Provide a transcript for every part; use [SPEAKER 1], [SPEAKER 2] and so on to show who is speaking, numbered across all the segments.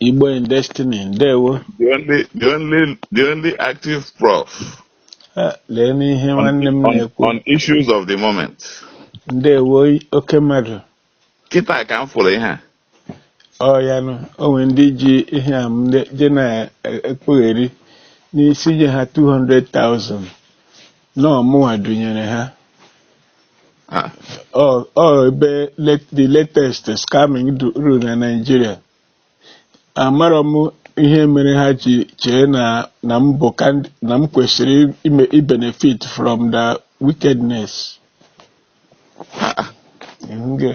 [SPEAKER 1] Igbo in Destiny ndewo the
[SPEAKER 2] only the only the only active prof eh, lee
[SPEAKER 1] n'ihe nwanne m na-ekwu on issues of the
[SPEAKER 2] moment ndewo
[SPEAKER 1] oke mmadụ kịta
[SPEAKER 2] ka m fụrụ ihe a ọ
[SPEAKER 1] ya nụ o nwere ndị ji aha m je na-ekpugheri na-asị nye ha 200,000 na ọ mụnwa dunyere ha Ah, ọ ọ ebe let- the latest scamming du- ruru na Naịjirịa amarọ m ihe mere ha ji chee na na m bụ kandi- na m kwesịrị ime ibenefit from the wickedness ah, ah. Nge.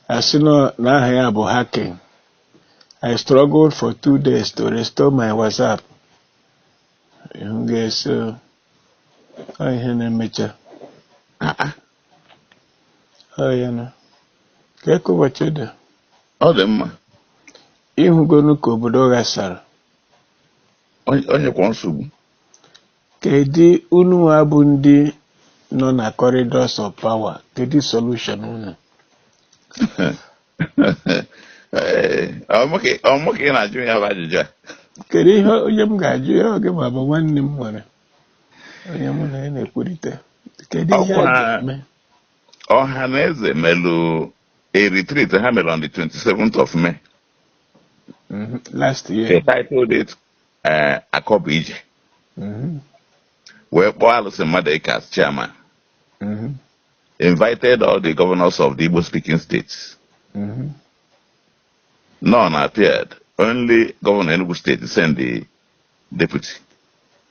[SPEAKER 1] a sị na aha ya bụ hacking I struggled for two days to restore my WhatsApp Ihe m ga-esi o, ọ ihe na-emecha. Ọ ya na ka eke ụbọchị dị Ọ dị mma.
[SPEAKER 2] ị
[SPEAKER 1] hụgonu ka obodo
[SPEAKER 2] ghasara Onye- Onye kwa
[SPEAKER 1] nsogbu. kedu ununwa bụ ndị nọ na corridors of power kedu solution unu
[SPEAKER 2] ọ mụ ka ị na-ajụ ya bụ ajụjụ a kedu ihe
[SPEAKER 1] onye m ga-ajụ ya ọ gịnwa bụ nwanne m nwere onye mụ na ya na-ekwurịta kedu ihe a ga-eme Ọhanaeze
[SPEAKER 2] melụ a retreat ha mere on the 27th of May mm-hmm.
[SPEAKER 1] last year they titled
[SPEAKER 2] it eh, Akọ bụ ije mm-hmm. wee kpọọ Allison Madueke as chairman mm-hmm. invited all the governors of the Igbo speaking states. Mm -hmm. None appeared. Only Governor Enugu State sent the deputy.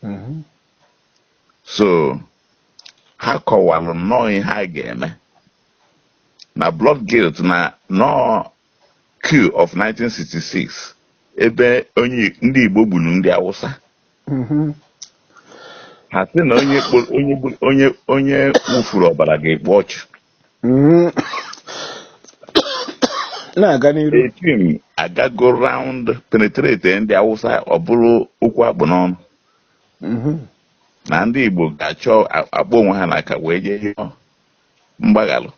[SPEAKER 2] Mm -hmm. So, ha kọwalụ nnọọ ihe ha ga-eme na blood guilt na na ọ coup of 1966 ebe onye ndị Igbo gburu ndị Awụsa mhm. ha sị na onye onye onye wụfuru ọbara ga-ekpu ọchụ mhm.
[SPEAKER 1] na-aga n'iru a team
[SPEAKER 2] agago round penetrate ndị Awụsa ọ bụrụ okwu a kpụ n'ọnụ mhm. na ndị Igbo ga-achọ akpọ onwe ha n'aka wee jee rịọ mgbaghalụ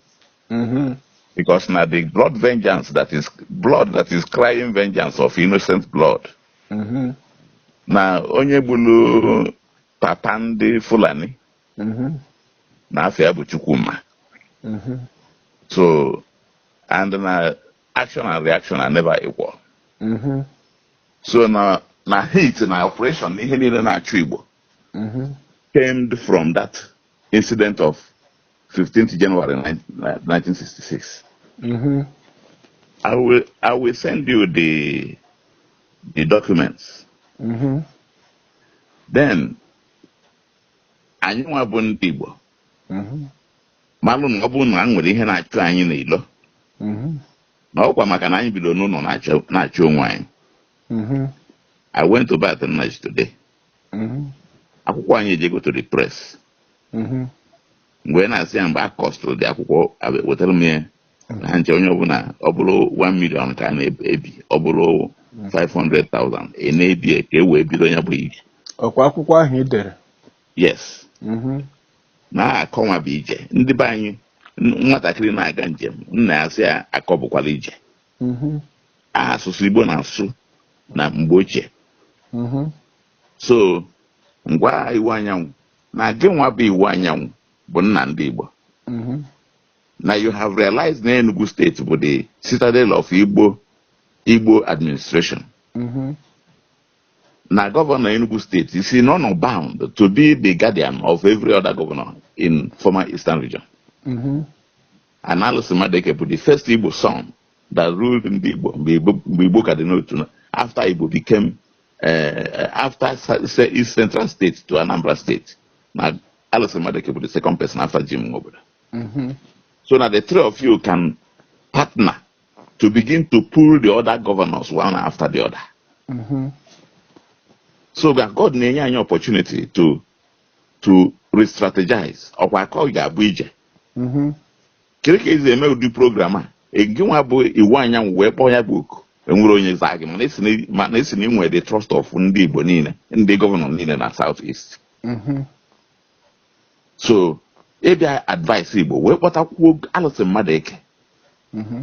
[SPEAKER 2] mm-hmm. because na the blood vengeance that is blood that is crying vengeance of innocent blood mm-hmm. na onye gburu papa ndị Fulani mm-hmm. na afa ya bụ Chukwuma so and na action and reaction are never equal so na na hate na oppression na ihe niile na-achụ Igbo mm-hmm. stemmed from that incident of 15th January 1966. Mm-hmm. I will I will send you the the documents. Mm-hmm. Then anyị nwa bụ ndị Igbo mm-hmm. malụ na ọ bụ na e nwere ihe na-achụ anyị n'ilo mm-hmm. na ọkwa maka na anyị bido n'ụlọ na-achụ onwe anyị mm-hmm. I went to bath in Nigeria today. mm-hmm. akwụkwọ anyị ejego to the press mm-hmm. mgbe na-asị ya mgbe a costụrụ the akwụkwọ wetara m ya mm-hmm. na ha nche onye ọbụla ọ bụrụ 1 million ka a na-ebi ọ bụrụ 500,000 a na-ebi ka e wee bido ya bụ ije ọkwa akwụkwọ
[SPEAKER 1] ahụ ị dere
[SPEAKER 2] yes na akọ nwa bụ ije ndị be anyị nwatakịrị na-aga njem nna ya sị ya akọ bụkwala ije mm-hmm. asụsụ Igbo na-asụ na mgbe ochie mm-hmm. so ngwa Iwuanyanwụ na gị nwa bụ Iwuanyanwụ bụ nna ndị Igbo mm-hmm. na you have realized na Enugu State bụ the citadel of Igbo Igbo administration na gọvanọ Enugu State is honour bound to be the guardian of every other governor in former eastern region na Allison Madueke bụ the first Igbo son that ruled ndị Igbo mgbe Igbo ka dị n'otu after Igbo became eh, after East Central State to Anambra State na Allison Madueke bụ the second person after Jim Nwobodo mm-hmm. so na the three of you can partner to begin to pull the other governors one after the other mm-hmm. so God na-enye anyị opportunity to to re-strategize ọkwa akọ ga-abụ ije mm-hmm. kere ka esi eme ụdị program a gị nwa bụ Iwuanyanwụ wee kpọọ ya bụ oku enwere onye zaa gị mana a sị na i nwe the trust of ndị Igbo niile ndị gọvanọ niile na South East mm-hmm. so ị bịa advise Igbo wee kpọtakwuo Allison Madueke mm-hmm.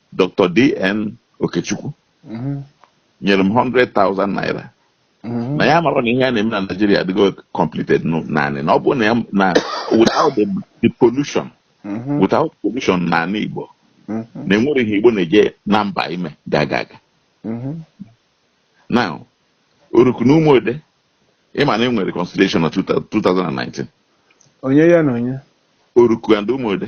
[SPEAKER 2] Dr. DN Okechukwu mhm. nyere m 100,000 naira mhm. na ya mara na ihe a na-eme na Nigeria adịgo completed naanị na ọ bụ na na without the pollution mhm. without pollution n'anị Igbo na enwere ihe Igbo na-eje na mba ime ga-aga aga na Oruku na Ụmụode ịma na enwere reconciliation na 2019 onye
[SPEAKER 1] ya na onye Oruku and
[SPEAKER 2] Ụmụode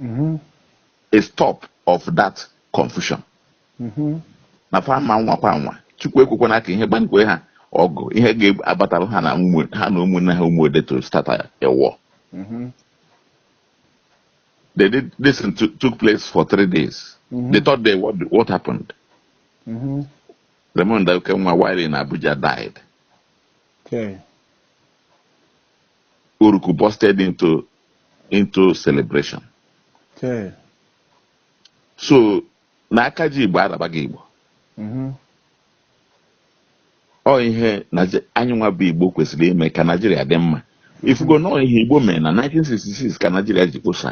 [SPEAKER 2] mm-hmm. a stop of that confusion mm-hmm. na fa ma nwakwa nwa chukwu ekwekwana ka ihe gbankwe ha ọgụ ihe ga-abatara ha na ha na ụmụnne ha Ụmụode to start a war mm-hmm. they did this took place for three days the third day what, what happened Raymond Okenwa while in Abuja died okay Oruku busted into into celebration. Okay. So na aka ji Igbo arabaghị Igbo. Mm-hmm. Ọ ihe anyị nwa bụ Igbo kwesịrị ime ka Naijiria dị mma. Ị fụgo na ọ ihe Igbo mere na 1966 ka Naijiria ji kposa.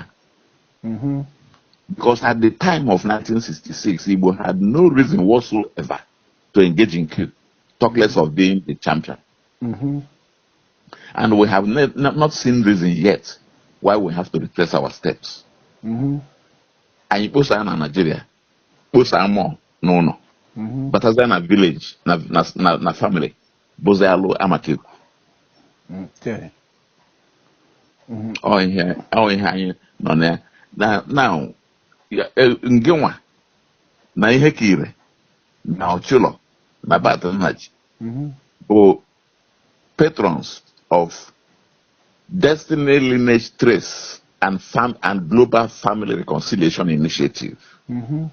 [SPEAKER 2] Mm-hmm. Because at the time of 1966, Igbo had no reason whatsoever to engage in coup, talk less of being the champion. Mm-hmm. And we have not seen reason yet why we have to retrace our steps. Mm-hmm. Anyị kposaa na Nigeria, kposaa ma n'ụnọ, mm-hmm. batazie na village na na na, na family bụzi alụ amaka ekwu. Ọ ihe ọ ihe anyị nọ na ya na na e, ngịnwa na Ihekire na Ochulor na Barth Nnaji bụ patrons of Destiny Lineage Trace and Fam and Global Family Reconciliation Initiative. Mm-hmm.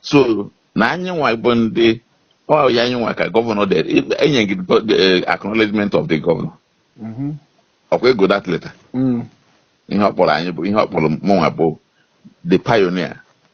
[SPEAKER 2] So na anyị nwa bụ ndị ọ ya anyị nwa ka governor dere enye gị eh, acknowledgement of the governor. Mm-hmm. Ọkwa ị gụọ that letter. Mm. Ihe ọ kpọrọ anyị bụ ihe ọ kpọrọ mụnwa bụ the pioneer.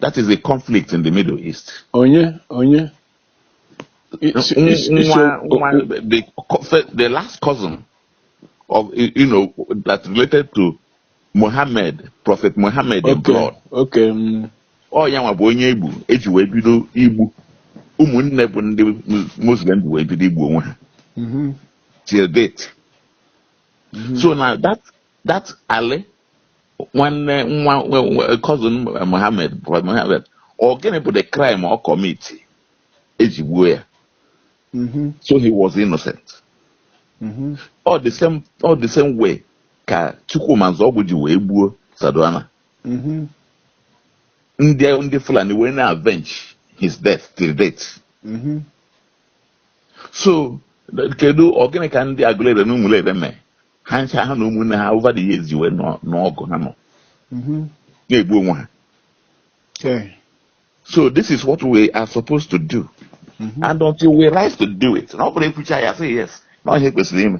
[SPEAKER 2] That is the conflict in the Middle East. Onye,
[SPEAKER 1] onye. It's, it's, it's
[SPEAKER 2] a, the, the last cousin of, you know, that related to Muhammad, Prophet Muhammad okay. in blood. Okay.
[SPEAKER 1] Mm. Ọ ya
[SPEAKER 2] nwa bụ onye egbu eji wee bido igbu ụmụnne bụ ndị Muslim wee bido igbu onwe ha. Mm-hmm. Till date. Mm-hmm. So now that that Ali nwanne nwa cousin Mohammed Mohammed ọ gịnị bụ the crime ọ commit eji gbuo ya mm-hmm. so he was innocent mm-hmm. ọ the same ọ the same way ka Chukwuma Nzeogwu ji wee gbuo Sardauna mm-hmm. ndị ndị Fulani wee na-avenge his death till date so kedu ọ gịnị ka ndị Agụleri na Ụmụleri mee ha ncha ha na ụmụnne ha over the years wee n'ọgụ ha nọ mm-hmm. na-egbu onwe ha so this is what we are supposed to do mm-hmm. and until we rise to do it na ọ bụrụ ekwucha ya say yes na ihe kwesịrị ime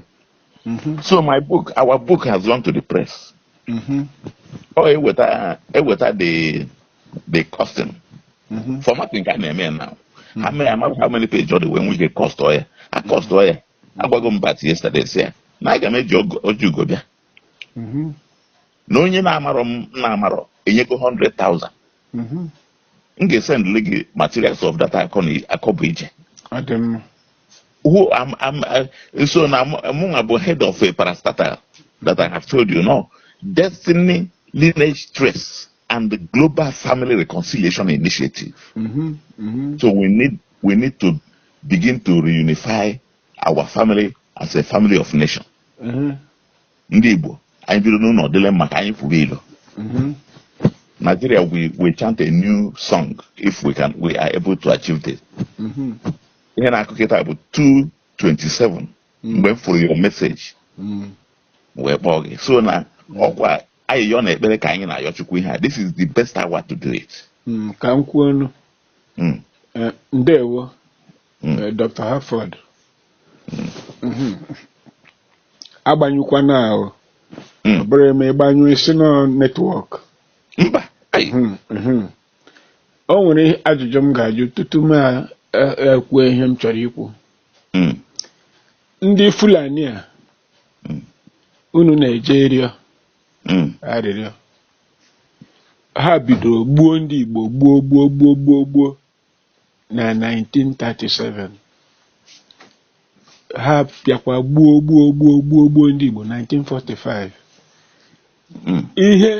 [SPEAKER 2] mm-hmm. so my book our book has gone to the press ọ eweta eweta the the costing formatting ka a na-eme now how many how many page ọ dị wee nwee ike cost ọ ya a cost ọ ya agwago m bat yesterday sị ya na aga m eji ogo- ọjị ugo bịa Mhm. na onye na-amarọ m na-amarọ enyego 100,000 Mhm. m ga-esendịrị gị materials of that akọ na akọ bụ ije Ọ dị mma. who am am uh, so na mụnwa bụ head of a parastatal that I have told you now destiny lineage trace and the global family reconciliation initiative Mhm. Mhm. so we need we need to begin to reunify our family as a family of nation mhm, ndị igbo anyị biri n'ụlọ dịlị mma ka anyị fụrụ ilo mhm. nigeria we, we chant a new song if we can we are able to achieve this Mhm, ihe na-akụ kịta bụ 227 mgbe m fụrụ your message mhm. wee kpọọ gị so na ọkwa ayịyọ na ekpere ka anyị na-ayọ chukwu ihe a this is the best hour to do it Mm, ka m kwuo ọnụ
[SPEAKER 1] Mm. Eh, ndewo Mm. eh, dr harford Mhm. agbanyụkwana o Mm. ọ bụrụ e mee ị gbanyụọ ị sị na ọ network mba
[SPEAKER 2] ai Mhm,
[SPEAKER 1] mhm. o nwere ihe- ajụjụ m ga-ajụ tutu m a- e- ekwuo ihe m chọrọ ikwu Mm. ndị fulani a Mm. unu na-eje ịrịọ hmm. arịrịọ ha bidoro gbuo ndị Igbo gbuo gbuo gbuo gbuo gbuo na 1937 ha bịakwa gbuo gbuo gbuo gbuo gbuo ndị Igbo 1945 hmm. ihe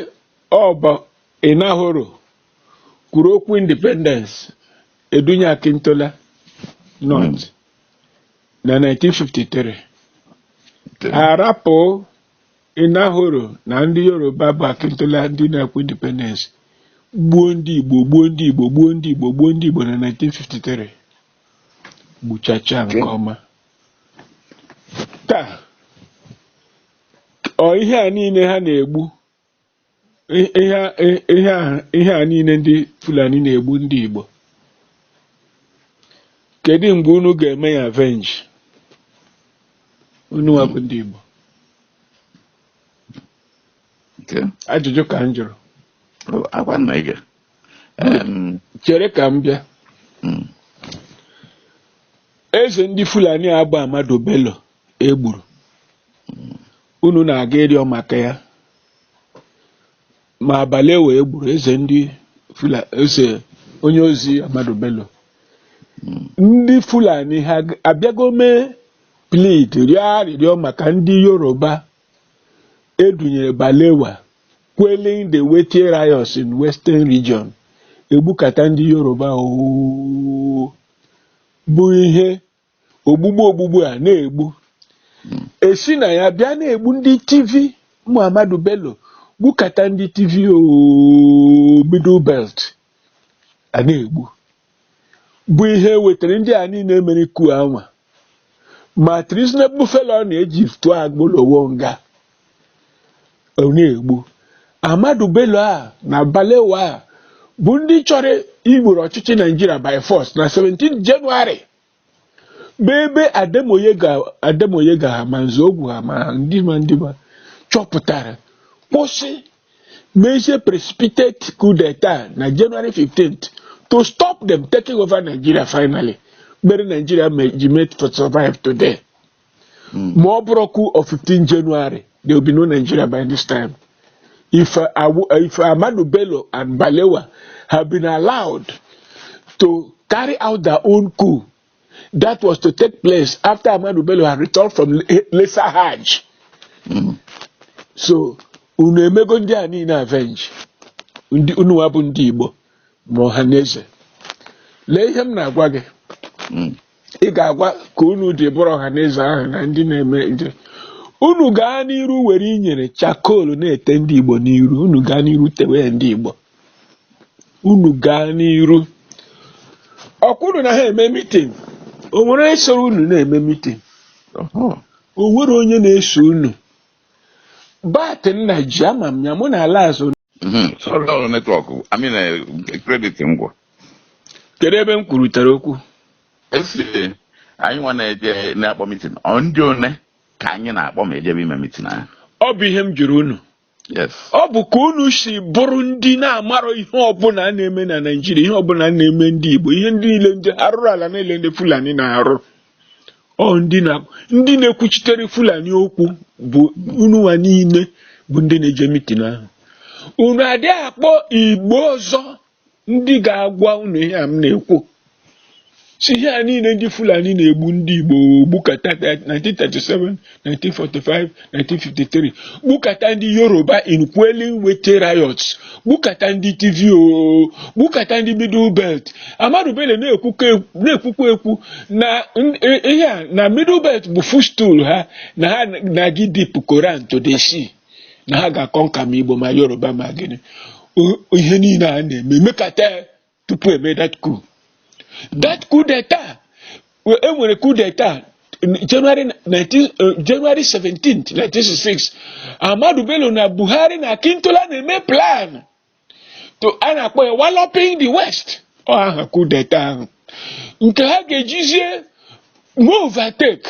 [SPEAKER 1] ọ bụ Enahoro kwuru okwu independence e dunye Akintola North hmm. na 1953 a rapụ Enahoro na ndị Yoruba bụ Akintola ndị na-ekwu independence gbuo ndị Igbo gbuo ndị Igbo gbuo ndị Igbo gbuo ndị Igbo na 1953 gbuchacha nke ọma taa ọ ihe a niile ha na-egbu ihe a niile ndị Fulani na-egbu ndị Igbo kedu mgbe unu ga-eme ya avenge ununwa bụ ndị Igbo ajụjụ ka m jụrụ chere ka m bịa hmm. eze ndị Fulani agba Ahmadu Bello e gburu unu na-aga ịrịọ maka ya ma Balewa e gburu eze ndị Fulani eze onye ozi Ahmadu Bello ndị Fulani ha abịago mee plead rịọ arịrịọ maka ndị Yoruba edunyere Balewa quelling the Wetie riots in Western Region egbukata ndị Yoruba ooo bụ ihe ogbugbu ogbugbu a na-egbu e si na ya bịa na-egbu ndị Tiv ma Ahmadu Bello gbukata ndị Tiv ooo, Middle Belt a na-egbu bụ ihe wetara ndị a niile mere coup a nwa ma treasonable felony e ji tụọ Awolowo nga Ọ na-egbu Ahmadu Bello a na Balewa a bụ ndị chọrọ igboro ọchịchị Naijiria by force na 17th January bụ ebe Ademoyega ha ma Nzeogwu ha ma ndị ma ndị ma chọpụtara kwụsị mezie precipitate coup d'etat na January 15th to stop them taking over Nigeria finally mere Nigeria ji mee to survive today. hmm. ma ọ bụrọ coup of 15th January there will be no Nigeria by this time if uh, if Ahmadu Bello and Balewa have been allowed to carry out their own coup that was to take place after Ahmadu Bello had returned from Lesser Hajj hmm. so unu emego ndị a niile avenge unu wa bụ ndị Igbo ma Ọhanaeze lee ihe m na-agwa gị hmm. ị ga-agwa ka unu dị bụrụ Ọhanaeze ahụ na ndị na-eme nje unu gaa n'iru were inyere charcoal na-ete ndị igbo n'iru unu gaa n'iru tewe ndị igbo unu gaa n'iru ọkwa unu na ha eme mitin o nwere onye soro unu na-eme mitin o nwere onye na-eso unu but nna ji ama m ya mụ na ala azụ Mhm. Sorry, ọ
[SPEAKER 2] network I mean eh, credit m gwụ
[SPEAKER 1] kedu ebe m kwurutere okwu esi
[SPEAKER 2] anyị nwa na-eje na-akpọ mitin ọ ndị one ka anyị na-akpọ ma ejebe ime mitin ahụ ọ bụ ihe m
[SPEAKER 1] jụrụ unu yes ọ bụ ka unu si bụrụ ndị na-amarọ ihe ọbụla a na-eme na Naịjirịa ihe ọbụla a na-eme ndị Igbo ihe ndị niile ndị arụrụ ala niile ndị Fulani na-arụ ọ ndị na ndị na-ekwuchitere Fulani okwu bụ unu nwa niile bụ ndị na-eje mitin ahụ unu adị akpọ igbo ọzọ ndị ga-agwa unu ihe a m na-ekwu si ihe a niile ndị Fulani na-egbu ndị Igbo gbukata 1937 1945 1953 gbukata ndị yoruba in quelling Wetie riots gbukata ndị Tiv o gbukata ndị middle belt Ahmadu Bello na-ekwukwa na-ekwukwa ekwu na n- i- ihe a na middle belt bụ footstool ha na ha na-aga idip Koran to the sea na ha ga-aconquer ma igbo ma yoruba ma gịnị O- ihe niile a na-eme mekata ya tupu e mee that coup that coup d'etat e nwere coup d'etat January 19 uh, January 17th 1966 Ahmadu Bello na Buhari na Akintola na-eme plan to a na-akpọ ya walloping the west ọ aha coup d'etat ahụ nke ha ga-ejizie overtake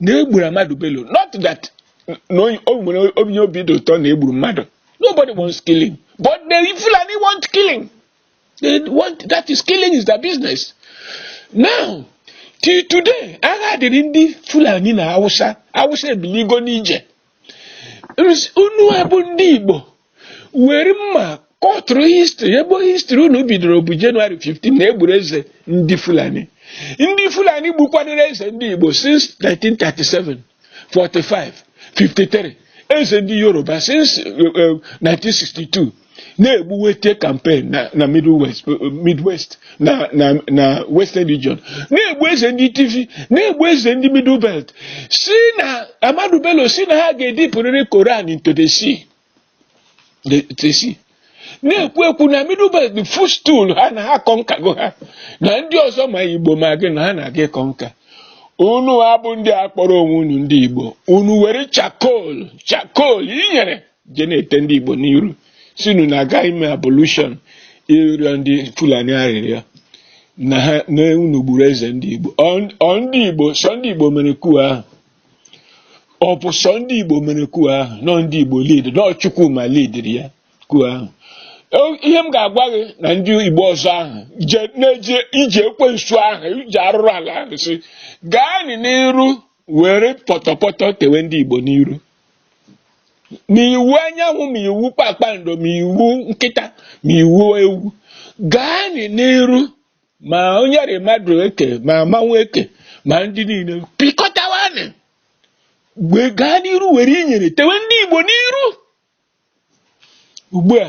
[SPEAKER 1] na e gburu Ahmadu Bello not that na onye- o nwere onye obi dị ụtọ na e gburu mmadụ nobody wants killing but the Fulani want killing they want that is killing is their business now till today agha dịrị ndị Fulani na Hausa Hausa ebiligo n'ije unu a bụ ndị Igbo were mma kọtụrụ history ebe history unu bidoro bụ January 15 na e gburu eze ndị Fulani ndị Fulani gbukwanụrụ eze ndị Igbo since 1937 45 53 eze ndị Yoruba since 1962 eh, eh, na-egbu Wetie campaign na na middle west midwest na na na western region na-egbu eze ndị Tiv na-egbu eze ndị middle belt si na Ahmadu Bello si na ha ga-edipụrịrị Koran into the sea the, the sea na-ekwu ekwu na middle belt bụ footstool ha na ha conquergo ha na ndị ọzọ ma igbo ma gị na ha na-aga iconquer unu a bụ ndị a kpọrọ onwe unu ndị igbo unu were charcoal charcoal inyere je na-ete ndị Igbo n'iru si unu na-aga ime ablution ịrịọ ndị Fulani arịrịọ na ha na unu gburu eze ndị Igbo ọ ndị Igbo sọ ndị Igbo mere coup ahụ ọ bụ sọ ndị Igbo mere coup ahụ n'ọ ndị Igbo lead n'ọ Chukwuma leadiri ya coup ahụ ihe m ga-agwa gị na ndị Igbo ọzọ ahụ na-eje ije ekwensu ahụ ije arụrụ ala ahụ si gaanị n'iru were pọtọpọtọ tewe ndị Igbo n'iru ma Iwuanyanwu ma iwu kpakpando ma iwu nkịta ma iwu ewu gaanị n'iru ma onye rị mmadụ eke ma mmanwụ eke ma ndị niile pịkọtawanị wee gaa n'iru were inyere tewe ndị Igbo n'iru ugbu a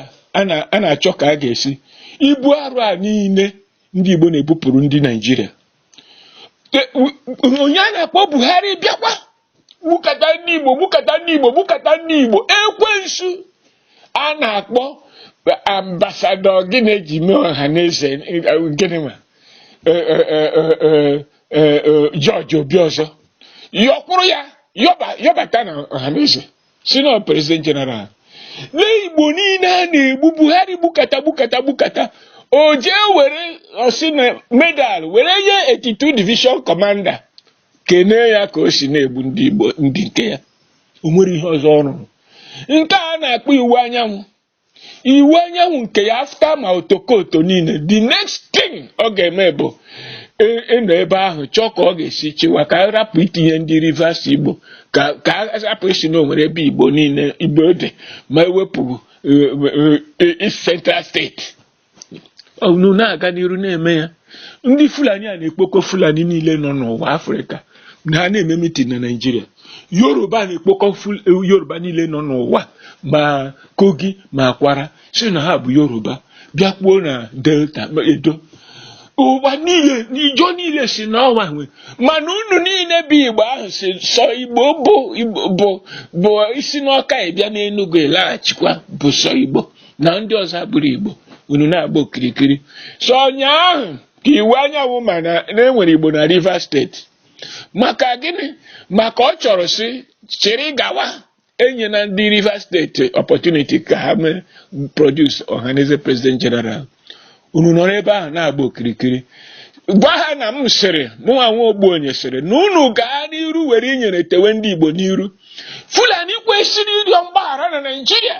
[SPEAKER 1] a na-achọ ka a ga-esi ibu arụ a niile ndị Igbo na-ebupụrụ ndị Naijiria onye a na-akpọ Buhari bịakwa gbukata ndị Igbo gbukata ndị Igbo gbukata ndị Igbo ekwensu a na-akpọ ambasadọ gịnị e ji mee Ohanaeze gịnị ma George Obiozor yọkpụrụ ya yọbata na Ohanaeze sị na president general lee igbo niile a na-egbu buhari gbukata gbukata gbukata o jee were ọ sị na medal were nye 82 division commander kenee ya ka o si na-egbu ndị igbo ndị nke ya o nwere ihe ọzọ ọ rụrụ nke a na-akpọ Iwuanyanwu Iwuanyanwu nke ya after ma otokoto niile the next thing ọ ga-eme bụ ị- ịnọ ebe ahụ chọọ ka ọ ga-esi chịwa ka a rapụ itinye ndị rivers igbo ka ka a rapụ ịsị na o nwere ebe igbo niile igbo dị ma e wepụ eh, eh, eh, East central state unu na-aga n'iru na-eme ya ndị fulani a na-ekpokọ fulani niile nọ n'ụwa afrịka na ha na-eme mitin na naijiria yoruba na-ekpokọ yoruba niile nọ n'ụwa ma kogi ma kwara sị na ha bụ yoruba bịakwuo na delta edo ụwa niile Ijaw niile sị n'ọnwa nwe mana unu niile bụ igbo ahụ sị sọ igbo bụ bụ isi n'ọka ịbịa n'enugwu ịlaghachikwa bụ sọ igbo na ndị ọzọ abụrọ Igbo unu na-agba okirikiri sọ ụnyaahụ ka Iwuanyanwu ma na e nwere Igbo na Rivers state maka gịnị maka ọ chọrọ si chịrị gawa enyena ndị Rivers state opportunity ka ha mee produce Ohanaeze president general unu nọrọ ebe ahụ na-agba okirikiri gwa ha na m sịrị mụnwa nwa ogbuonye sịrị na unu gaa n'iru were inyere tewe ndị Igbo n'iru Fulani kwesịrị ịrịọ mgbaghara na Naịjirịa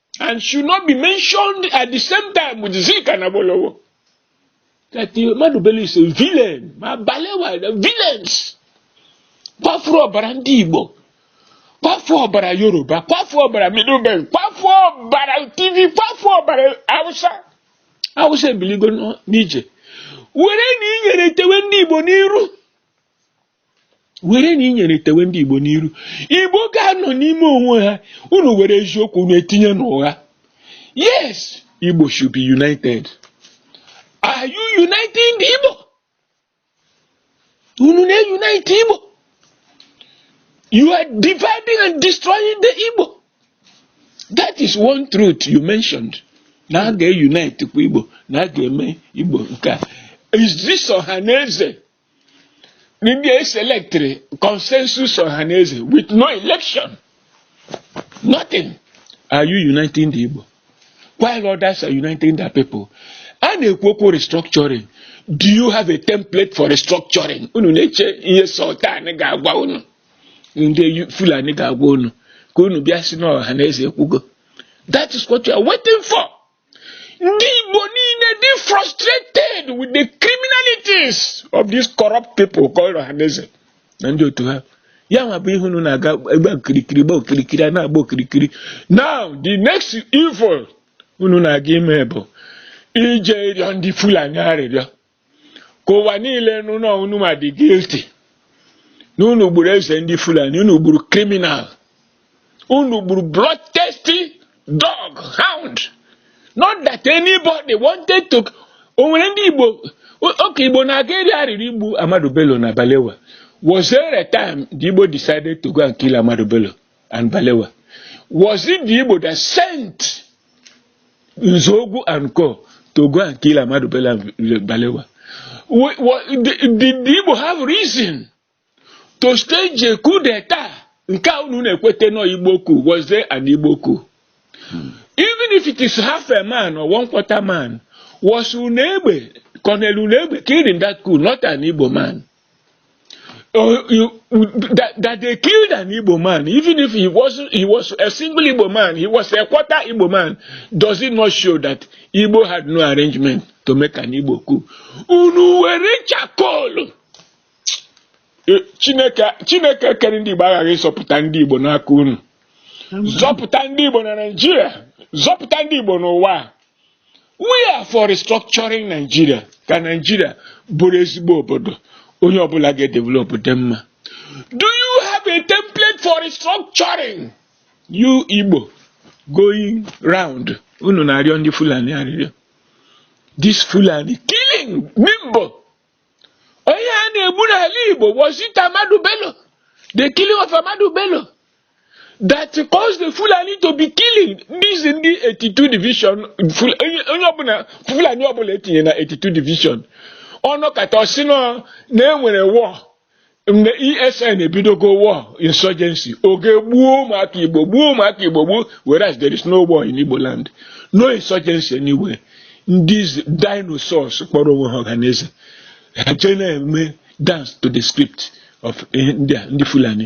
[SPEAKER 1] and should not be mentioned at the same time with Zik and Awolowo. That Ahmadu Bello is a villain. Ma Balewa, the villains. Kwafu ọbara ndị Igbo. Kwafu ọbara Yoruba. Kwafu ọbara Middle Belt. Kwafu ọbara Tiv. Kwafu ọbara Hausa. Hausa ebiligo n'ije. Were na inyere tewe ndị Igbo n'iru. were na inyere tewe ndị Igbo n'iru Igbo ga-anọ n'ime onwe ha unu were eziokwu unu etinye n'ụgha yes Igbo should be united are you uniting the Igbo unu na-unite Igbo you are dividing and destroying the Igbo that is one truth you mentioned na a ga-unite kwa Igbo na a ga-eme Igbo nke a is this Ohanaeze ndị eselectịrị consensus Ohanaeze with no election nothing are you uniting the Igbo while others are uniting their people a na-ekwu okwu restructuring do you have a template for restructuring unu na-eche ihe sultan ga-agwa unu ndị Fulani ga-agwa unu ka unu bịa sị na Ohanaeze ekwugo that is what you are waiting for. Ndị Igbo niile dị frustrated with the criminalities of these corrupt people called Ohanaeze na ndị otu ha. Ya nwa bụ ihe unu na-aga gba okirikiri gba okirikiri a na-agba okirikiri. Now the next evil unu na-aga ime bụ ije ịrịọ ndị Fulani arịrịọ. ka ụwa niile nụ na unu ma dị guilty na unu gburu eze ndị Fulani unu gburu criminal unu gburu bloodthirsty dog hound not that anybody wanted to o nwere ndị Igbo oge Igbo na-aga eri arịrị igbu Ahmadu Bello na Balewa was there a time the Igbo decided to go and kill Ahmadu Bello and Balewa? Was it the Igbo that sent Nzogu and Co to go and kill Amadu Bello and Balewa? Did the Igbo have reason to stage a coup d'etat? Nke a unu na-ekwete nọ Igbo coup, was there an Igbo coup? Hmm. Even if it is half a man or one quarter man, was Unegbe, Colonel Unegbe killed in that coup, not an Igbo man? Oh, you, that, that they killed an Igbo man, even if he was he was a single Igbo man, he was a quarter Igbo man, does it not show that Igbo had no arrangement to make an Igbo coup? Unu were charcoal. Eh, Chineke Chineke kere ndị Igbo aghaghị ịzọpụta ndị Igbo n'aka unu. Zọpụta ndị Igbo na Naịjirịa, zọpụta ndị Igbo n'ụwa. we are for restructuring Nigeria ka Nigeria bụrụ ezigbo obodo onye ọbụla ga-edevelop dị mma do you have a template for restructuring you Igbo going round unu na-arịọ ndị Fulani arịrịọ this Fulani killing Nimbo onye a na-egbu n'ala Igbo was it Ahmadu Bello the killing of Ahmadu Bello that caused the Fulani to be killing this ndị 82 division onye ọbụla Fulani ọbụla e tinye na 82 division ọ nọkata ọ sị na e nwere war mgbe ESN ebidogo war insurgency o jee gbuo ụmụaka Igbo gbuo ụmụaka Igbo gbuo whereas there is no war in Igbo land no insurgency anywhere ndị dinosaurs kpọrọ onwe ha Ohanaeze ha jee na-eme dance to the script of ndị Fulani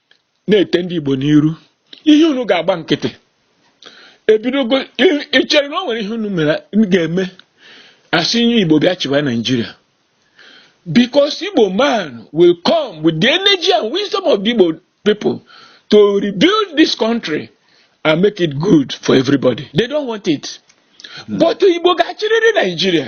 [SPEAKER 1] na-ete ndị Igbo n'iru ihe unu ga-agba nkịtị ebidogo i chere na o nwere ihe unu mere ga-eme a sị onye Igbo bịa chịwa Naijiria because Igbo man will come with the energy and wisdom of the Igbo people to rebuild this country and make it good for everybody they don't want it hmm. but Igbo ga-achịrịrị Naijiria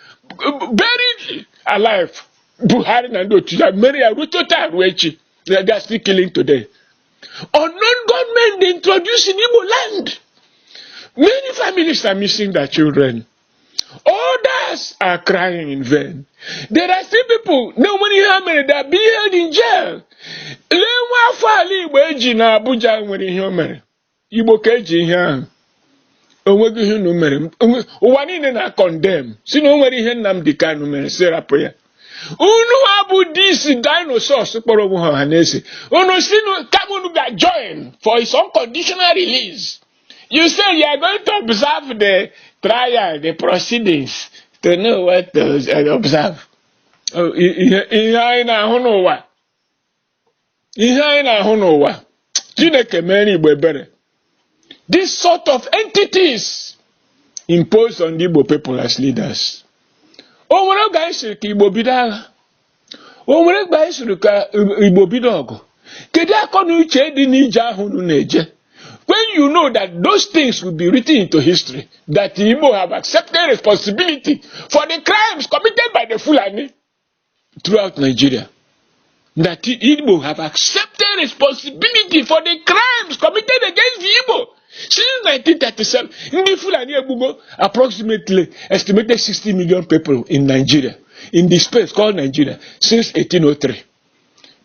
[SPEAKER 1] buried alive Buhari na ndị otu ya mere ya ruo taa ruo echi they are still killing today unknown gunmen they introduced in Igbo land many families are missing their children others are crying in vain there are still people na o nwere ihe ha mere they are being held in jail lee nwa afọ ala Igbo eji na Abuja nwere ihe o mere igbo ka eji ihe ahụ onweghị ihe unu mere ụwa niile na-acondemn sị na o nwere ihe Nnamdi Kanu mere sị rapụ ya unu a bụ these dinosaurs kpọrọ onwe ha Ọhanaeze unu sị kama unu ga join for his unconditional release you say you are going to observe the trial the proceedings to know what to observe oh, ihe anyị na-ahụ n'ụwa ihe anyị na-ahụ n'ụwa chineke meere igbo ebere this sort of entities imposed on the igbo people as leaders o nwere oge anyị sịrị ka igbo bido agha o nwere oge anyị sịrị ka igbo bido ọgụ kedu akọ na uche dị n'ije ahụ unu na-eje when you know that those things will be written into history that igbo have accepted responsibility for the crimes committed by the fulani throughout Nigeria that Igbo have accepted responsibility for the crimes committed against the Igbo since 1937. Ndị Fulani egbugo approximately estimated 60 million people in Nigeria in the space called Nigeria since 1803.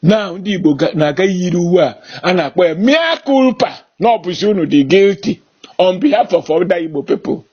[SPEAKER 1] Now ndị Igbo na-aga yiri uwe a a na-akpọ ya mea culpa na ọ bụzi unu dị guilty on behalf of other Igbo people.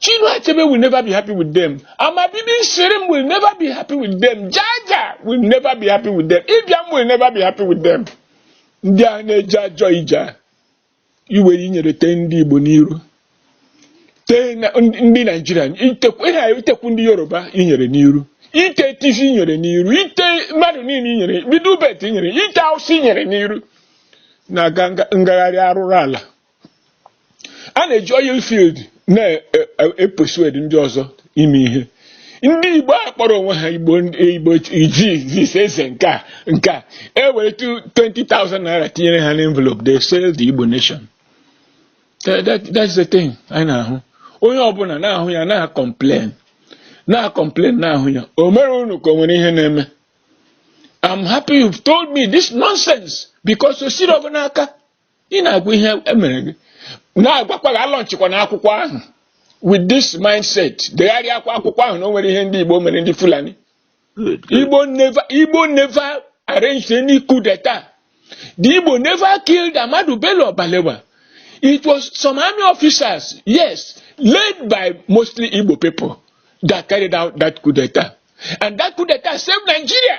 [SPEAKER 1] Chinua Achebe will never be happy with them. Amabibi Shirim will never be happy with them. Jaja will never be happy with them. Ibiam will never be happy with them. Ndị a na-eje ajọ ije iwere inyere tee ndị Igbo n'iru tee ndị Nigeria itekwu ndị Yoruba inyere n'iru ite Tiv inyere n'iru ite mmadụ niile inyere bido ubet inyere ite awụsa inyere n'iru na ngagharị arụrụ ala a na-eji oil field na-epersuade ndị ọzọ ime ihe ndị igbo a kpọrọ onwe ha igbo igbo ijiz eze nke a nke a e were 20,000 naira tinyere ha n'envelope they sell the igbo nation that's the thing anyị na-ahụ onye ọbụla na-ahụ ya na-acomplain na-acomplain na-ahụ ya o mere unu ka o nwere ihe na-eme I'm happy you've told me this nonsense because ọ sịrị ọ bụ n'aka ị na-agwa ihe emere gị na-agwakwa gị alọnchịkwana akwụkwọ ahụ with this mindset degharịakwa akwụkwọ ahụ na o nwere ihe ndị Igbo mere ndị Fulani Igbo never arranged any coup d'etat the Igbo never killed Ahmadu Bello Balewa it was some army officers yes led by mostly Igbo people that carried out that coup d'etat and that coup d'etat saved Nigeria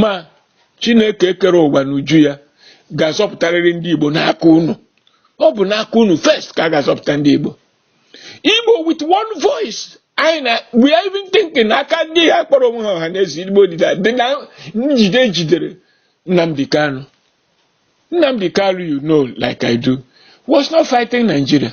[SPEAKER 1] ma Chineke kere ụwa n'uju ya ga-azọpụtarịrị ndị Igbo n'aka unu ọ bụ n'aka unu first ka a ga-azọpụta ndị Igbo Igbo with one voice anyị na we are even thinking aka ndị a kpọrọ onwe ha Ọhanaeze Igbo dịda dị na njide e jidere Nnamdi Kanu Nnamdi Kanu you know like I do was not fighting Nigeria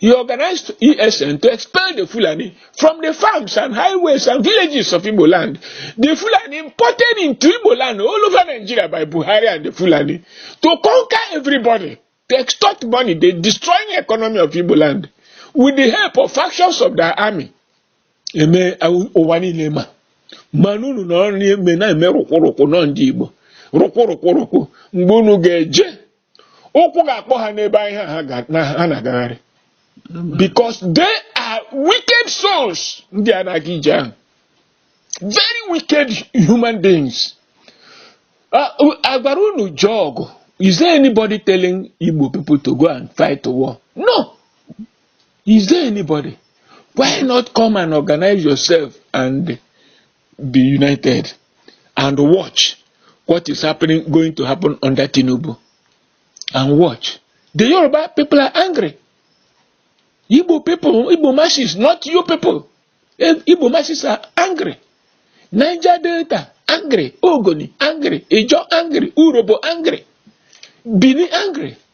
[SPEAKER 1] He organized ESN to expel the Fulani from the farms and highways and villages of Igbo land. The Fulani imported into Igbo land all over Nigeria by Buhari and the Fulani to conquer everybody, to extort money, they destroying the economy of Igbo land with the help of factions of their army. Eme ụwa niile ma mana unu nọrọ na-eme na-eme rụkwụrụkwụ nọ ndị Igbo rụkwụrụkwụrụkwụ mgbe unu ga-eje ụkwụ ga-akpọ ha n'ebe ahụ ha na-agagharị because they are wicked souls ndị a na-aga ije ahụ very wicked human beings a gwara unu jee ọgụ is there anybody telling Igbo people to go and fight the war no is there anybody why not come and organize yourself and be united and watch what is happening going to happen under Tinubu and watch the Yoruba people are angry Igbo people Igbo masses not you people eh, Igbo masses are angry Niger Delta angry Ogoni angry Ijo angry Urobo angry Bini angry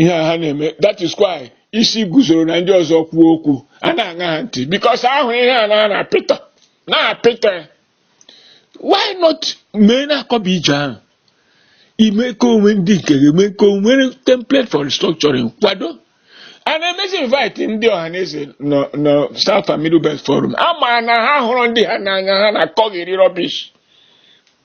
[SPEAKER 1] ihe a ha na-eme that is why Isiguzoro na ndị ọzọ kwuo okwu a na-aṅa ha ntị because a hụ ihe ha na-apịta why not mee na-akọba ije ahụ ime ka o nwee ndị nke ga-eme ka o nwee template for restructuring kwado and emezi invite ndị Ọhaneze nọ nọ South and Middle Belt Forum a ma na ha hụrụ ndị ha n'anya ha na-akọgheri rubbish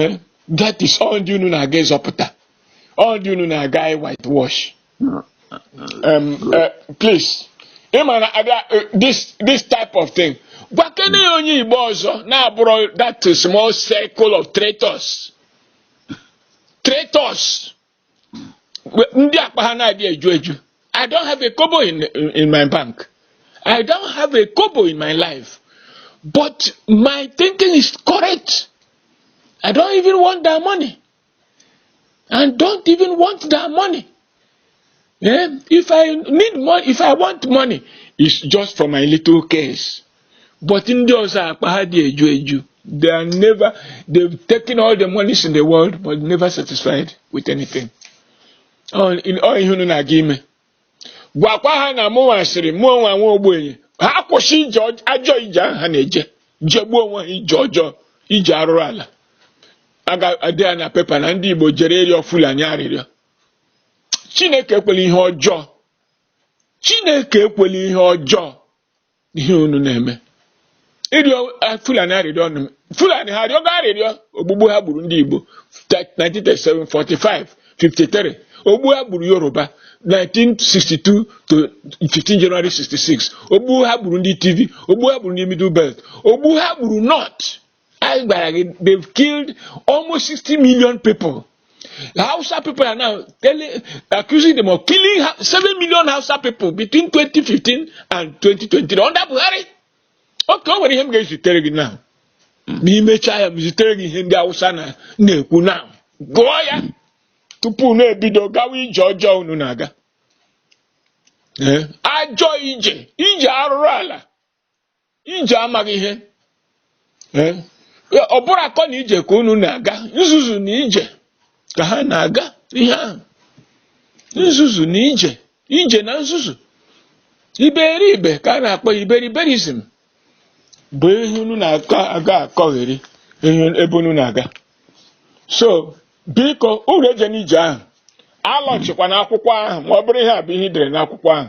[SPEAKER 1] eh, that is ọ ndị unu na-aga ịzọpụta ọ ndị unu na-aga whitewash um, uh, please ị ma na abịa eh, this this type of thing gwakene ya onye Igbo ọzọ na-abụrọ that small circle of traitors traitors ndị akpa ha na-adị eju eju I don't have a kobo in, in my bank I don't have a kobo in my life but my thinking is correct I don't even want that money and don't even want that money yeah? if I need money if I want money it's just for my little case but ndị ọzọ akpa ha adị eju eju they are never they've taken all the monies in the world but never satisfied with anything ọ ihe unu na-aga ime gwakwa ha na mụnwa sịrị mụnwa nwa ogbenye ha kwụsị ije ajọ ije ahụ ha na-eje jegbuo onwe ha ije ọjọọ ije arụrụ ala a ga-ede ya na pepa na ndị Igbo jere ịrịọ Fulani arịrịọ Chineke ekwela ihe ọjọọ Chineke ekwela ihe ọjọọ ihe unu na-eme ịrịọ eh, fulani arịrịọ ọnụ m. fulani ha arịọgo arịrịọ ogbugbu ha gburu ndị igbo 1937 45 53 ogbu ha gburu yoruba 1962 to 15 January 66 ogbu ha gburu ndị Tiv ogbu ha gburu ndị middle belt ogbu ha gburu north anyị gwara gị they've killed almost 60 million people Hausa people are now telling, accusing them of killing 7 million Hausa people between 2015 and 2020 under Buhari okay o nwere ihe m ga-ezitere gị now ma imechaa ya m zitere gị ihe ndị Hausa na-ekwu now gụọ ya tupu unu ebido gawa ije ọjọọ unu na-aga ajọ ije ije arụrụ ala ije amaghị ihe Eh, ọ bụrọ akọ na ije ka unu na-aga nzuzu na ije ka ha na-aga ihe ahụ nzuzu na ije ije na nzuzu iberibe ka a na-akpọ ya iberiberism bụ ihe unu na-aga akọgheri ebe unu na-aga so biko unu ejena ije ahụ alaunchikwana akwụkwọ ahụ ma ọ bụrụ ihe a bụ ihe i dere n'akwụkwọ ahụ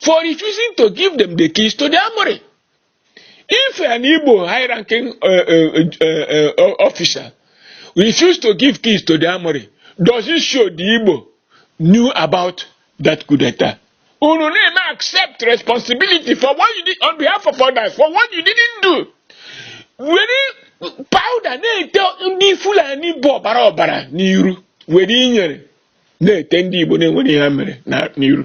[SPEAKER 1] for refusing to give them the keys to the armory. If an Igbo high-ranking uh, uh, uh, uh, officer refused to give keys to the armory, does it show the Igbo knew about that coup d'etat? Unu na-eme accept responsibility for what you did on behalf of others, for what you didn't do. Were powder na-ete ndị Fulani bụ ọbara ọbara n'iru were inyere na-ete ndị Igbo na-enwerọ ihe ha mere n'iru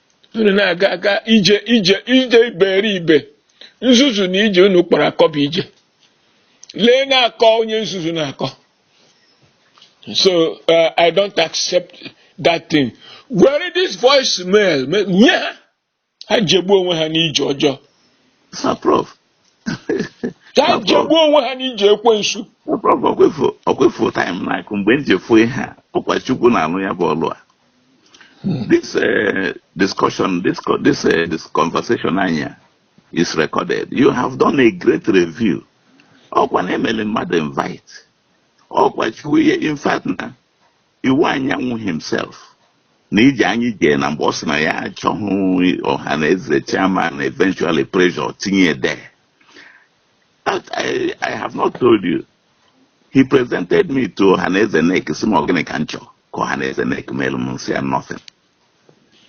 [SPEAKER 1] unu na-aga aga ije ije ije iberibe nzuzu na ije unu kpọrọ akọ bụ ije lee na-akọ onye nzuzu na-akọ so uh, i don't accept that thing were this voice mail nye ha ha jegbuo onwe ha n'ije ọjọọ ka ha jegbuo onwe ha n'ije
[SPEAKER 2] ekwensu ọkwa ị fụ time na-akụ mgbe m ji fụ ihe a ọkwa chukwu na-alụ ya bụ ọlụ a hmm. this eh, discussion this this eh, this conversation anyị a is recorded you have done a great review ọkwa na emele mmadụ invite ọkwa chukwu ihe in fact na Iwuanyanwu himself na ije anyị jee na mgbe ọ sị na ya achọghị Ọhanaeze chairman eventually pressure tinye there but I have not told you he presented me to Ọhanaeze NEC sị m ọ gịnị ka m chọọ ka Ọhanaeze NEC melu m m sị ya nothing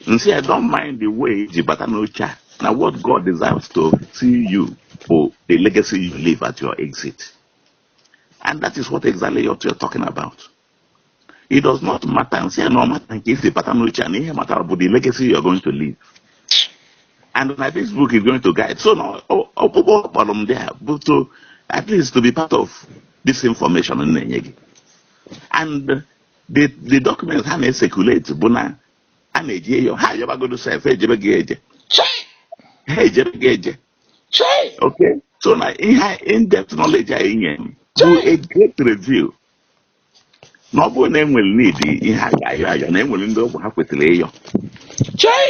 [SPEAKER 2] m sị ya don't mind the way i ji bata n'oche a na what God desires to see you bụ the legacy you leave at your exit and that is what exactly you're talking about it does not matter m sị ya na ọ matter nke isi bata n'uche a na ihe matara bụ the legacy you are going to leave and na this book is going to guide so na ọkpụkpọ ọ kpọrọ m there bụ to at least to be part of this information m na-enye gị and the the documents ha na-ecirculate bụ na a na-eje ịyọ ha ejebagodo sef ejebeghị eje ha ejebeghị eje okay so na ihe in-depth knowledge a i nye m bụ a great review na ọ bụrụ na enwere ndị ha ga-ayọ ayọ na enwere ndị ọ bụ ha kwetara ịyọ chai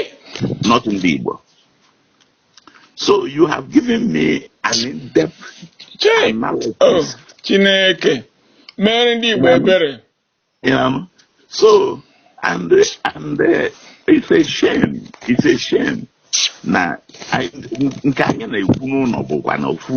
[SPEAKER 2] not ndị Igbo so you have given me an in-depth analysis oh
[SPEAKER 1] Chineke mere ndị Igbo
[SPEAKER 2] ebere so and and uh, it's a shame it's a shame na nke anyị na-ekwu n'ụnọ bụkwa na ofu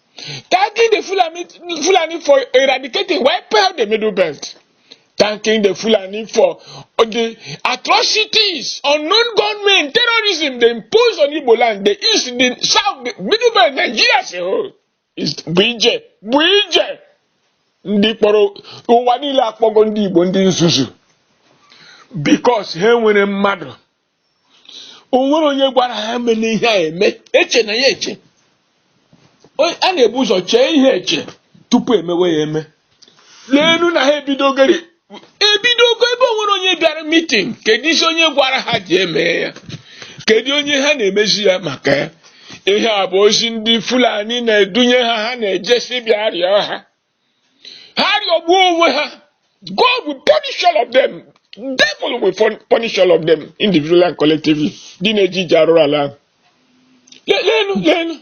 [SPEAKER 1] Thanking the Fulani, Fulani for eradicating, wiping out the Middle Belt. Thanking the Fulani for the atrocities, unknown gunmen, terrorism they impose on Igbo land, the east, the south, the Middle Belt, Nigeria as a whole. Is bụ ije, bụ ije. Ndị kpọrọ ụwa niile akpọgo ndị Igbo ndị nzuzu because ha nwere mmadụ o nwere onye gwara ha meenụ ihe a eme echena ya eche O- a na-ebu ụzọ chee ihe eche tupu emewe ya eme leenu na ha ebidogori ebidogo ebe o nwere onye bịara meeting kedu isi onye gwara ha ji eme ya kedu onye ha na-emezi ya maka ya ihe a bụ ozi ndị fulani na-edunye ha ha na-eje sị bịa rịọ ha ha rịọgbuo onwe ha God will punish all of them devil will fun- punish all of them individually and collectively ndị na-eje ije arụrụ ala ahụ Le- leenụ leenụ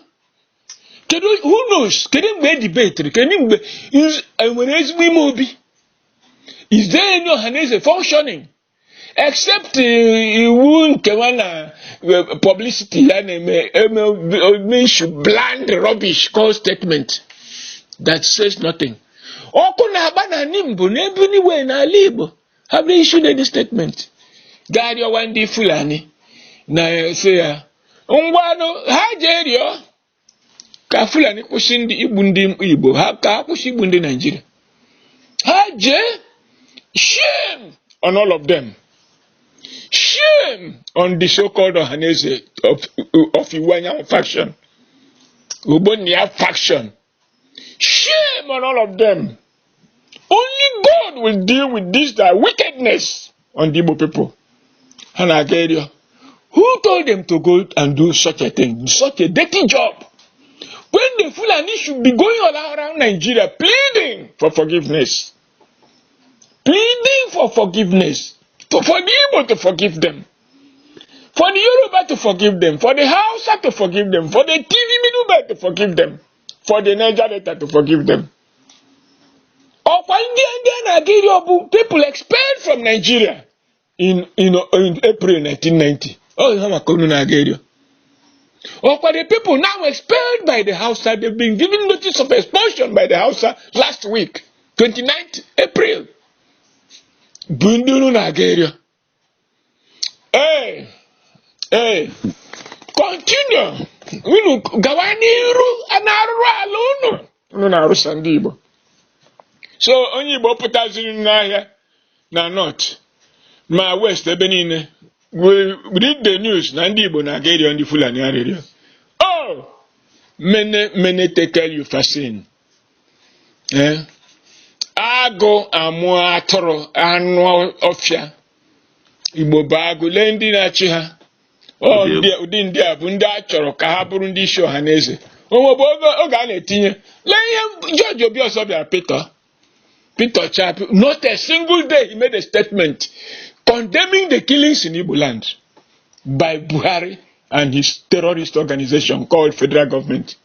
[SPEAKER 1] kedu who knows kedu mgbe e debate-iri kedu mgbe nz- enwere ezigbo ime obi is there any ọhaneze functioning except iwu nkewa na eh, publicity ya na-eme eme eme issue bland rubbish call statement that says nothing ọkụ na-agba na nimbo n'ebe niwe n'ala igbo have they issued any statement gaa rịọwa ndị fulani na-asị ya ngwanụ ha jee rịọ ka fulani kwụsị ndị igbu ndị igbo ha ka ha kwụsị igbu ndị nigeria ha jee shame on all of them shame on the so-called ọhaneze of, of iwuanyanwụ faction ogbonnia faction shame on all of them only God will deal with this their wickedness on the Igbo people ha na-aga ịrịọ who told them to go and do such a thing such a dirty job when the Fulani should be going all around Nigeria pleading for forgiveness pleading for forgiveness to, for the Igbo to forgive them for the Yoruba to forgive them for the Hausa to forgive them for the TV middleman to forgive them for the Niger Delta to forgive them ọkwa ndị ndị a na-aga ịrịọ bụ people expelled from Nigeria in, in, in April 1990 ọ ihe maka unu na-aga ịrịọ ọkwa the people now expelled by the Hausa they've been given notice of expulsion by the Hausa last week 29th April bụ ndị unu na-aga ịrịọ ee ee continue unu gawa n'iru n'arụrụala unu unu na-arụsa ndị Igbo so onye Igbo pụtaziri n'ahịa na north ma west ebe niile read the news na ndị Igbo na-aga ịrịọ ndị Fulani arịrịọ oh mene mene tekel upharsin ee agụ amụọ atụrụ anụ ọfịa Igbo bụ agụ lee ndị na-achị ha ụdị ndị a bụ ndị a chọrọ ka ha bụrụ ndị isi Ọhanaeze o nwebu oge a na-etinye lee ihe George Obiozor bịara pịtọ pịtọchaa not a single day he made a statement condemning the killings in Igbo land by Buhari and his terrorist organization called federal government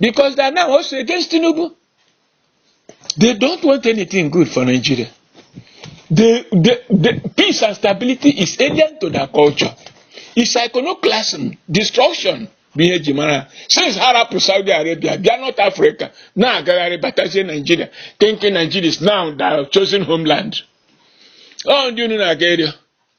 [SPEAKER 1] because they are now also against Tinubu. They don't want anything good for Nigeria. The, the, the peace and stability is alien to their culture. It's iconoclasm, destruction. bụ ihe e ji mara since ha rapụ Saudi Arabia bịa North Africa na-agagharị batazie Nigeria thinking Nigeria is now their chosen homeland ọ ndị unu na-aga ịrịọ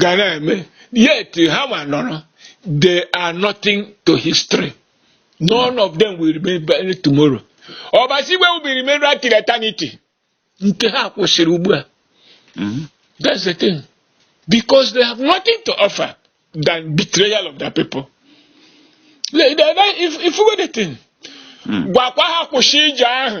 [SPEAKER 1] ga na-eme yet ha ma nọrọ they are nothing to history none of them will remain tomorrow Ọbasi Igwe will remain right till eternity nke ha kwụsịrị ugbu a mm-hmm. that's the thing because they have nothing to offer than betrayal of their people if, if we the thing hmm. gwakwa ha kwụsị ije ahụ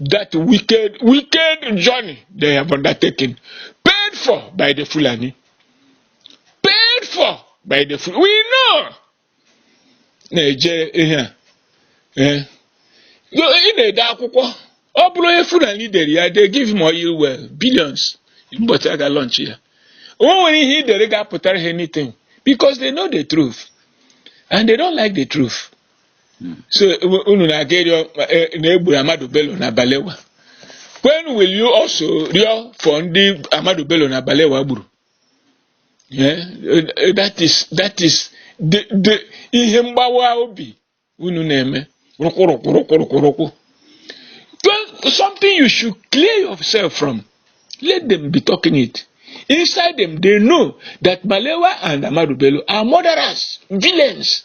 [SPEAKER 1] that wicked, wicked journey they have undertaken, paid for by the Fulani. Paid for by the Fulani. We know. Na-eje ihe a. Eh. Ị na-ede akwụkwọ. Ọ bụrụ onye Fulani dere ya, they give him oil well, billions. Mbọchị a ga-launch ya. O nwere ihe ị dere ga-apụtara ha anything because they know the truth and they don't like the truth. so unu na-aga ịrịọ e, na e gburu Ahmadu Bello na Balewa when will you also rịọ for ndị Ahmadu Bello na Balewa gburu eh, eh, that is that is the ihe mgbawa obi unu na-eme rụkwụrụkwụrụkwụrụkwụrụkwụ something you should clear yourself from let them be talking it inside them they know that Balewa and Ahmadu Bello are murderers villains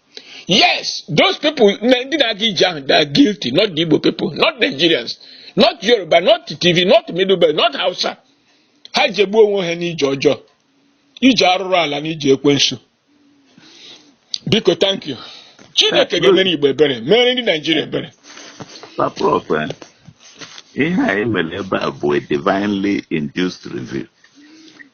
[SPEAKER 1] Yes, those people, ndị na-aga ije ahụ, they are guilty, not the Igbo people, not Nigerians, not Yoruba, not Tiv, not Middle Belt, not Hausa. Ha jegbuo onwe ha n'ije ọjọọ, ije arụrụ ala na ije ekwensu. Biko, thank you. Chineke ga-emere Igbo ebere, mere ndị Nigeria
[SPEAKER 2] ebere. Prof, ihe anyị mere ebe a bụ a divinely induced review.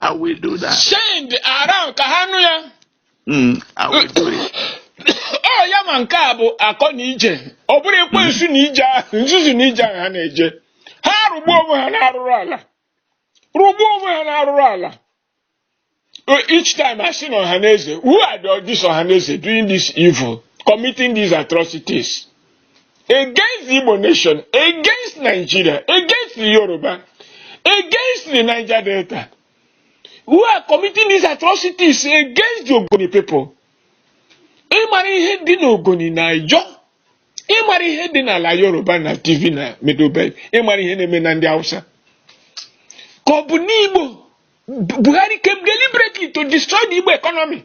[SPEAKER 2] I will do that. Send around
[SPEAKER 1] ka ha nụ ya. Mm, I will
[SPEAKER 2] do it. Ọ ya
[SPEAKER 1] ma nke a bụ akọ n'ije. Ọ bụrụ ekwensu n'ije ahụ, nzuzu n'ije ahụ ha na-eje. Ha rụgbuo onwe ha n'arụrụ ala. Rụgbuo onwe ha n'arụrụ ala. Uh, Each time I see Ohaneze, who are the, this Ohaneze doing this evil, committing these atrocities? against the Igbo nation, against Nigeria, against the Yoruba, against the Niger Delta, who are committing these atrocities against the Ogoni people. Ị mara ihe dị n'Ogoni na Ijaw ị mara ihe dị n'ala Yoruba na Tiv na Middle Belt ị mara ihe na-eme na ndị Hausa ka ọ bụ n'Igbo Buhari came deliberately to destroy the Igbo economy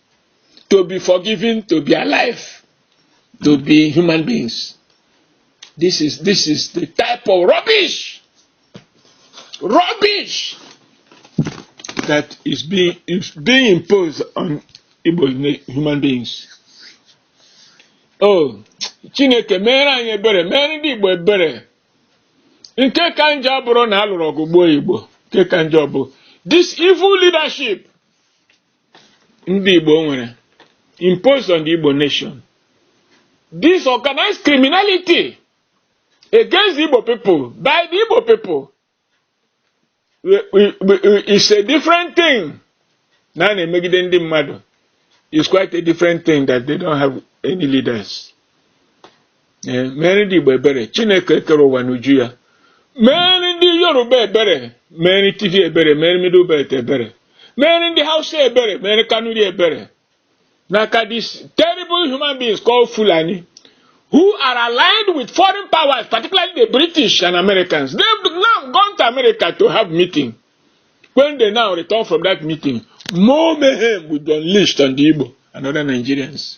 [SPEAKER 1] to be forgiven to be alive to be human beings this is this is the type of rubbish rubbish that is being is being imposed on Igbo human beings oh chineke meere anyị ebere meere ndị Igbo ebere nke ka njọ abụrọ na a lụrụ ọgụ gbuo Igbo nke ka njọ bụ this evil leadership ndị Igbo nwere imposed on the Igbo nation this organized criminality against the Igbo people by the Igbo people is a different thing na a na-emegide ndị mmadụ is quite a different thing that they don't have any leaders. ee meere ndị Igbo ebere Chineke kere ụwa n'uju ya meere ndị Yoruba ebere meere Tiv ebere meere Middle Belt ebere meere ndị Hausa ebere meere Kanuri ebere n'aka these terrible human beings called Fulani who are aligned with foreign powers particularly the British and Americans they've now gone to America to have meeting when they now return from that meeting more mayhem will be unleashed on the Igbo and other Nigerians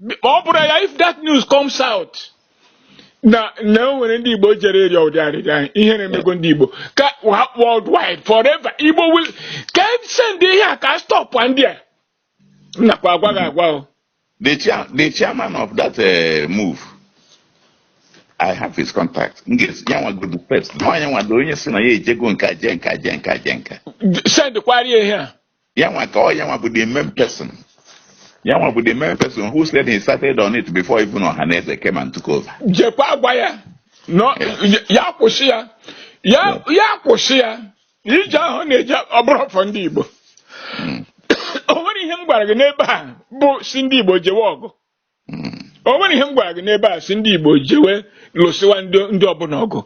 [SPEAKER 1] ma ọ bụrụ ya if that news comes out na na o nwere ndị Igbo jere ịrịọ ụdị arịrịọ ahụ ihere emego ndị Igbo ka ha worldwide forever Igbo will ka e send ihe a ka stop ndị a m nakwa agwa gị agwa o the
[SPEAKER 2] chair the chairman of that uh, move i have his contact m ga-ezi ya nwa godu first nwa ya nwa dị onye sị na ya ejego nka je nka je nka je nka send
[SPEAKER 1] kwara ya ihe a ya nwa ka ọ
[SPEAKER 2] ya nwa bụ the main person ya nwa bụ the main person who said he started on it before even Ohaneze came and took over jekwaa gwa ya
[SPEAKER 1] na ya kwụsị ya ya kwụsị ya ije ahụ ọ na-eje ọ bụrụ for ndị Igbo o nwere ihe m gwara gị n'ebe a bụ sị ndị Igbo jewe ọgụ o nwere ihe m gwara gị n'ebe a sị ndị Igbo jewe lụsịwa ndị ọbụla ọgụ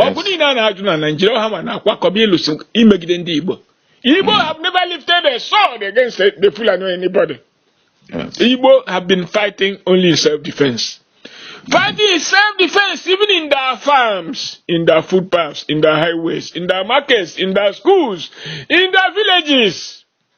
[SPEAKER 1] ọgụ niile a na-alụ na Nigeria ha ma na-akwakọba ịlụsị imegide ndị Igbo Igbo hmm. have never lifted a sword against the Fulani or anybody
[SPEAKER 2] Igbo have
[SPEAKER 1] been fighting only in self-defense fighting in self-defense even in their farms in their footpaths in their highways in their markets in their schools in their villages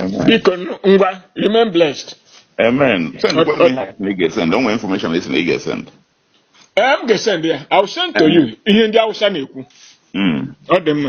[SPEAKER 1] Amen. biko nụ, ngwa remain blessed Amen. Send Ọ- kwanụ
[SPEAKER 2] ọ- ihe na ị ga-esend. O nwere information ị sị na ị ga-esend. ee
[SPEAKER 1] m ga-esend ya i will send to you ihe ndị Awụsa na-ekwu Mm. ọ dị mma